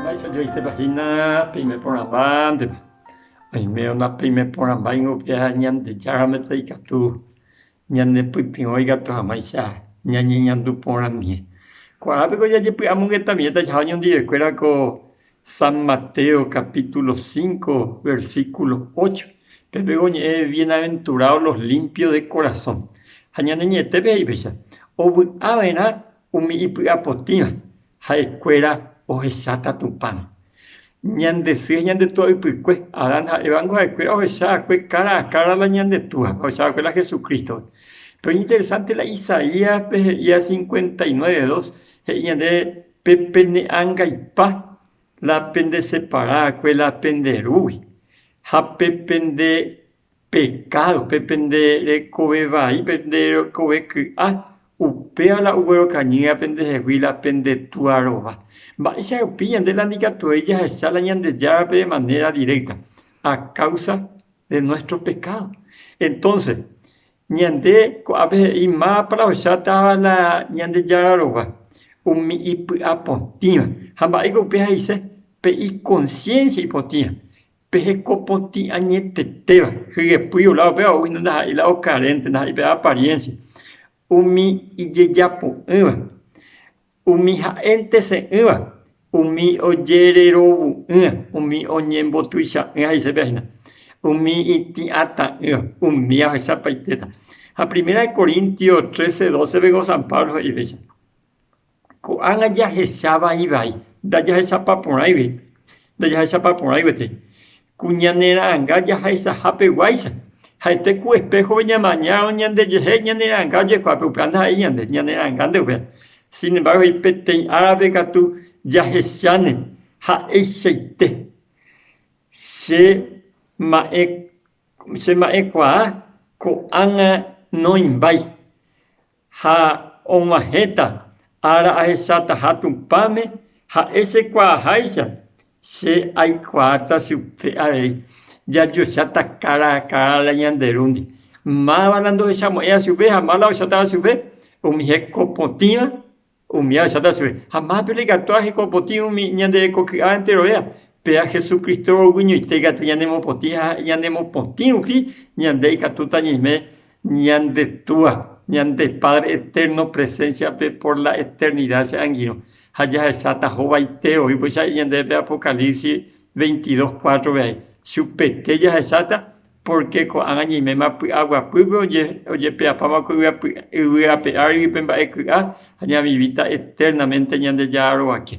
Mba'éicha joaitépa hína peime porãmbánteva? Oime ona peime porãmba ingueha Ñandejárame ikatu ñanepytyvõi katu hag̃uáicha ñañeñandu porãmie. Kuaápeko jajepy'amongetamivéta jaha oñondive'ekuérako San Mateo capítulo 5, versículo 8, pepépe oñe'ẽ Bienaventurados los limpios de corazón. Ha ñane ñe'ẽtépe he'i péicha, Ovy'a va'erã umi ipy'apotĩva, ha'ekuéra ohecháta Tupãme. Ñande sy ha ñande túa ypykue, Adán ha Eva ningo ha'ekuéra ohecha va'ekue kára a kára la ñande Túa, ohecha va'ekue la Jesucrístore. Pero iñinteresántela Isaíaspe he'íva cincuenta y nueve dos, he'i ñande Pe pene angaipa la pende separáakue la pende rúgui, ha pe pende pekádo, pe pende rekove vai, pe pende rekove ky'a, upéva la oguerokañýva pende hegui la pende túa rova. Mba'éicha rupi ñande la nikatuvéi jahecha la Ñandejárape de manera directa, a causa de nuestro pecado. Entonces, Ñande ko'ápe he'i mápa la ocháta la Ñandejára rova, umi ipy'apotĩva. Ha mba'éiko upéva he'ise? Pe ikonsiénsia ipotĩva, pe hekopotĩ añetetéva, hyepýi ola upéva ou hína ndaha'éi la okarénte, ndaha'éi pe apariénsia, umi ijejapo'ỹva, Umi ha'énte se'ỹva, umi ojererovu'ỹa, umi oñembotuicha'ỹa he'ise pe ahina, umi itĩ'atã'ỹva, umi ahechapaitéta. Ha Primera de Corintios trece, doce pegua San Pablo he'ivéicha, Ko'ág̃a jahecha vaivai, ndajahechapa porãigue, ndajahechapa porãiguetei. Ku ñane ra'anga jahaichaha peguáicha, ha'ete ku espéjove ñamañárõ ñandejehe ñane ra'anga ojekuaape upéva ndaha'éi ñande ñane ra'anga ndeguéra. Sin embárgo he'i, Peteĩ árape katu jahecháne ha'eichaite che ma'ẽ, che ma'ẽkuaa ko'ág̃a noimbái. Ha og̃uahẽta ára ahechataha Tupãme, ha'e chekuaaháicha, che aikuaáta chupe avei. Jajocháta kára ha kára la ñande rúndi. Máva la ndohechamo'ẽva chupe ha máva la ohechátava chupe, umi hekopotĩva Umi áchata chupe, ha mápe reikatuha heko potĩ umi ñande hekoky'a enterovéva. Péa Hesu Crísto royguiñoite ikatu ñanemopotĩ ha ñanemopotĩ rupi ñande ikatúta ñaime ñande Túa, ñande Padre Eterno presénsiape por la eternida che angirõ. Ha jahecháta hovaite oĩpaicha ñandéve Apocalipsis veintidós cuátrope aĩ. Chupete jahecháta Pórke ko'ág̃a ñaiméma py'a guapýpe ojepe'apáma ko yvy ape árigui pe mba'e ky'a, ha ñavivíta eternaménte Ñandejára roguake.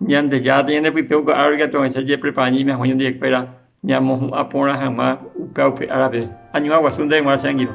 Ñandejára tañanepytyvõ ko árigui katuavaicha jepreparaiñaime hag̃ua Ñandejára ñamohu'ã porã hag̃ua upéva upe árape. Añuã guasu ndéve g̃uarã che angirũ.